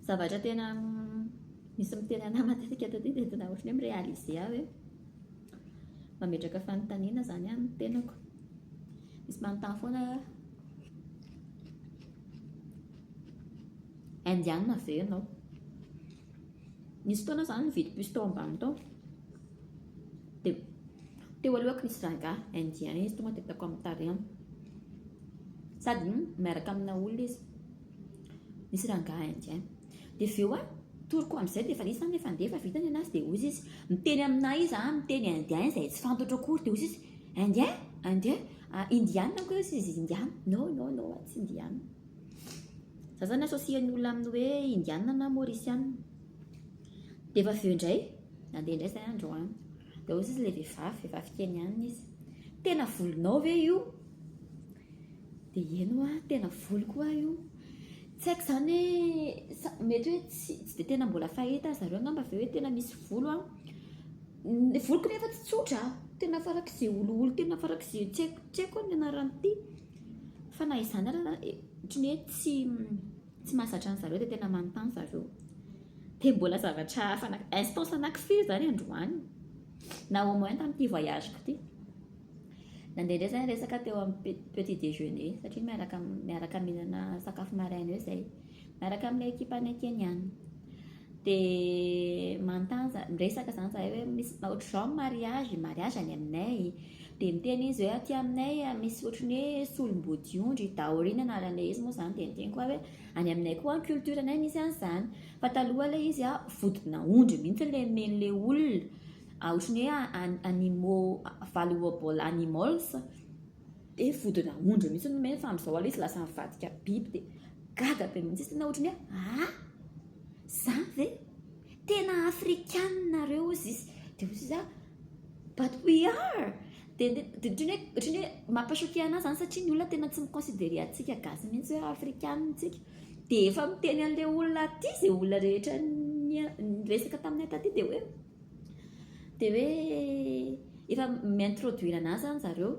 Zavatra tena misy miteny anah matetika taty dia tena ohatran'ny hoe mi-realiser aho hoe mametraka fanontaniana izany amin'ny tenako. Misy manontany foana hoe Indiana ve ianao? Nisy fotoana aho izany nividy puce tao ambany tao dia teo alohako nisy rangahy Indien izy tonga dia ataoko amin'ny tarehiny. Sady miaraka amina olona izy. Misy rangahy indiens. Dia avy eo an, toroko amin'izay dia efa nisy taminy efa ndeha fa vita ny an'azy dia hoy izy izy, miteny aminà izy an, miteny indien izay tsy fantatro akory dia hoy izy izy, indien? indien? indiana angamba hoy izy izy, indiana, no, no, no, tsy indiana. Za zany associer ny olona amin'ny hoe indiana na mauriciana. Dia efa avy eo indray, nandeha indray izay andro an, dia hoy izy izy ilay vehivavy, vehivavy keniana izy, tena volonao ve io? Dia eny hoa, tena voly koa aho io. Tsy haiko izany hoe, mety hoe tsy dia tena mbola fahita ry zareo angamba ve hoe tena misy volo an. Ny voloko nefa tsy tsotra an, tena farak'izay olioly tena farak'izay tsy haiko tsy haiko ny anaran'ity. Fa na izany ary na, ohatran'ny hoe tsy tsy mahazatra an'i zareo dia tena manontany ry zareo. Dia mbola zavatra hafa, instance anankifiry izany androany, na au moins tamin'ity voyage-ko ity. Nandehandeha izay ny resaka teo amin'ny petit déjeuner satria miaraka miaraka mihinana sakafo maraina eo izay miaraka amin'ilay ekipanay Kenyana. Dia manontany za miresaka izany izahay hoe misy ohatr'izao ny mariazy, mariazy any aminay. Dia miteny izy hoe aty aminay misy ohatran'ny hoe solom-bodiondry, dowry ny anaran'ilay izy moa izany. Dia niteny koa aho hoe any aminay koa ny culture-nay misy an'izany. Fa taloha ilay izy vodina ondry mihitsy ilay omen'ilay olona. Ohatran'ny hoe an animaux valuable animals dia vodina ondry mihitsy no omeny fa amin'izao aloha izy lasa nivadika biby dia gaga be mihitsy izy tena ohatran'ny hoe aa izany ve? tena afrikana nareo hozy izy dia hozy izy a but we are dia ohatran'ny hoe mampa choquer anah izany satria ny olona tena tsy mi considerer antsika gasy mihitsy hoe afrikana isika dia efa miteny an'ilay olona aty izay olona rehetra niresaka taminay taty dia hoe Dia hoe efa mi-introduire anà izany zareo,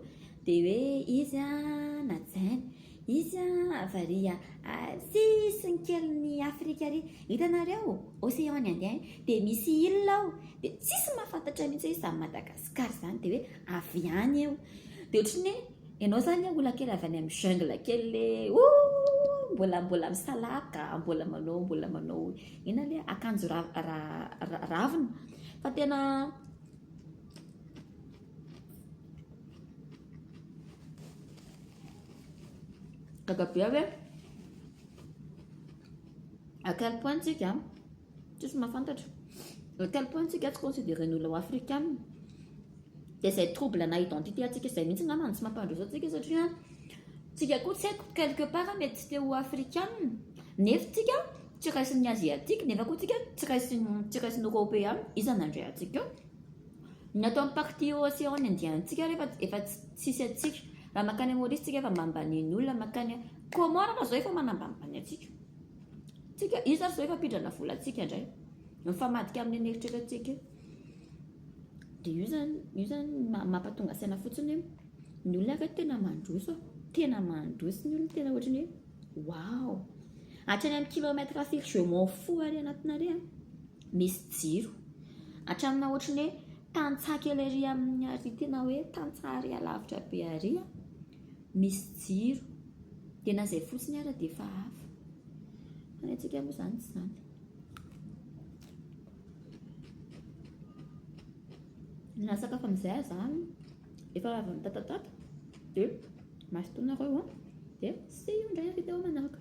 dia hoe izy an, najainy, izy an, avy ary sisiny kelin'i Afrika ary, hitanareo Océan ny Indien, dia misy île ao, dia tsisy mahafantatra mihitsy hoe izany Madagascar izany, dia hoe avy any io, dia ohatran'ny hoe Ianao zany a ola kely avy any am jungle kely le ooh mbola mbola misalaka mbola manao mbola manao inona le akanjo ra ra ravina fa tena gaga be aho hoe à quel point tsika Tsisy mahafantatra. À quel point tsika tsy considérer ny olona ho afrikana. Dia izay trouble ana identité antsika izay mihitsy angamba no tsy mampandroso antsika satria tsika koa tsy haiko quelque part mety tsy te ho afrikana nefa tsika tsy raisin'ny asiatique nefa koa tsika tsy raisin'ny tsy raisin'ny européen iza nandray antsika eo. Ny ato amin'ny partie océan indien antsika ary efa efa tsy tsisy antsika. Raha mankany Maurice tsika efa mba mba nen'olona mankany comment raha zao efa manambanimbany antsika. Tsika io zany zao efa pidrana volantsika ndray. Mifamadika amin'ny an'eritreretantsika io. Dia io zany io zany mampatonga saina fotsiny hoe ny olona ve tena mandroso? Tena mandroso ny olona tena ohatran'ny hoe wow. Hatrany amin'ny kilomètre firy je m'en fous ary anatina re a. Misy jiro. Hatraminà ohatran'ny hoe tantsaha kely ery amin'ny ary tena hoe tantsaha ary alavitra be ary a. misy jiro dia na izay fotsiny ara dia efa hafa fa ny antsika moa izany tsy izany na sakafo amin'izay aza efa avy mitatatata dia masintonareo an dia sy io indray avy teo manaraka